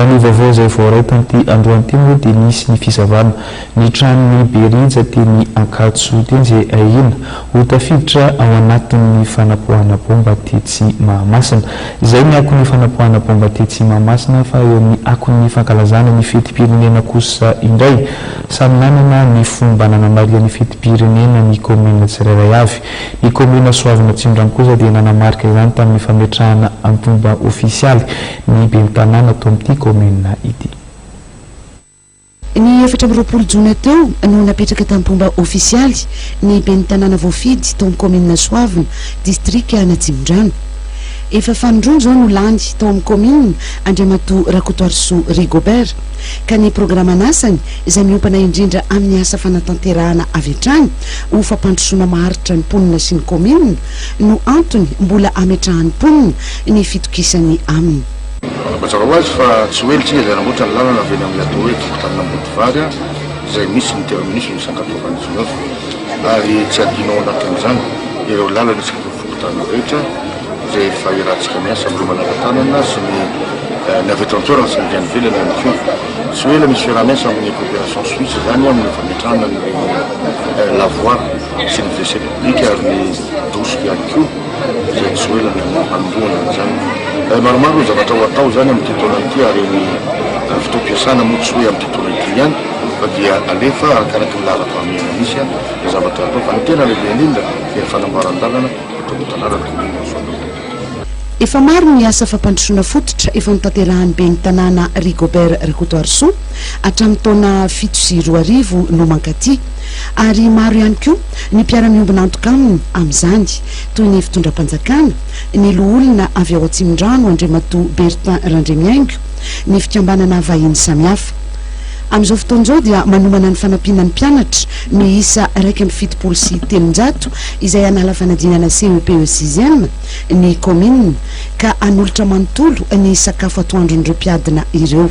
Raha ny vaovao izay voaray tamin'ity androany ity moa dia nisy ny fisavana ny tranon'i Berija teny Ankatso teny izay ahiana ho tafiditra ao anatin'ny fanapoahana baomba tetsy Mahamasina. Izay ny akon'ny fanapoahana baomba tetsy Mahamasina fa eo amin'ny akon'ny fankalazana ny fetim-pirenena kosa indray. Samy nanana ny fomba nanamariany fetim-pirenena ny kaominina tsirairay avy. Ny kaominina Soavina Atsimo-Drano kosa dia nanamarika izany tamin'ny fametrahana antonba ofisialy ny Ben'ny Tanàna tao amin'ity kaominina ity. Ny efatra amby roapolo jona teo no napetraka tamim-pomba ofisialy ny Ben'ny Tanàna voafidy tao amin'ny kaominina Soavina, distrika an'Atsimondrano. Efa fanindroany izao no lany tao amin'ny kaominina Andriamatoa Rakotoarisoa Rigobert, ka ny programan'asany izay miompana indrindra amin'ny asa fanatanterahana avy hatrany ho fampandrosoana maharitra ny mponina sy ny kaominina, no antony mbola ametrahan'ny mponina ny fitokisany aminy. Mazava ho azy fa tsy ho ela isika izay nangoatra ny lalana avy eny amin'ny atao hoe Fokontany Ambodivary izay misy ny terminus-n'ny Sankatoavan'i Junior ary tsy hadino ao anatin'izany ireo lalana isakin'ny fokontany rehetra izay efa iarahantsika miasa amin'ireo manara-tanana sy ny ny avy eto an-toerana sy ny avy any ivelany ihany koa. Tsy ho ela misy fiaraha-miasa amin'ny Coopération Suisse izany amin'ny fametrahana an'ireny la voie sy ny WC. Ika ary ny doso ihany koa izay soelana ny hanombohana an'izany. Eh, maromaro ny zavatra ho atao izany amin'ity taona ity ary ny eh, fotoam-piasana moa tsy hoe amin'ity taona ity ihany fa dia alefa arakaraka ny laharam-pahamehana misy eh, ny zavatra atao fa ny tena lehibe indrindra dia ny fanamboaran-dalana eto amin'ny tanànan'ny kaominina Soanierana. Efa maro ny asa fampandrosoana fototra efa notanterahan'ny ben'ny tanàna Rigobert Rakotoarisoa hatramin'ny taona fito sy roa arivo no mankaty, ary maro ihany koa ny mpiara-miombon'antoka aminy amin'izany, toy ny fitondram-panjakana, ny loholona avy ao Atsimondrano Andriamatoa Bertin Randriamihaingo, ny fikambanana vahiny samihafa. Amin'izao fotoana izao dia manomana ny fanampiana ny mpianatra miisa iraika amby fitopolo sy telonjato izay hanala fanadinana CEP eo sixième ny kaominina ka hanolotra manontolo ny sakafo atoandron'ireo mpiadina ireo.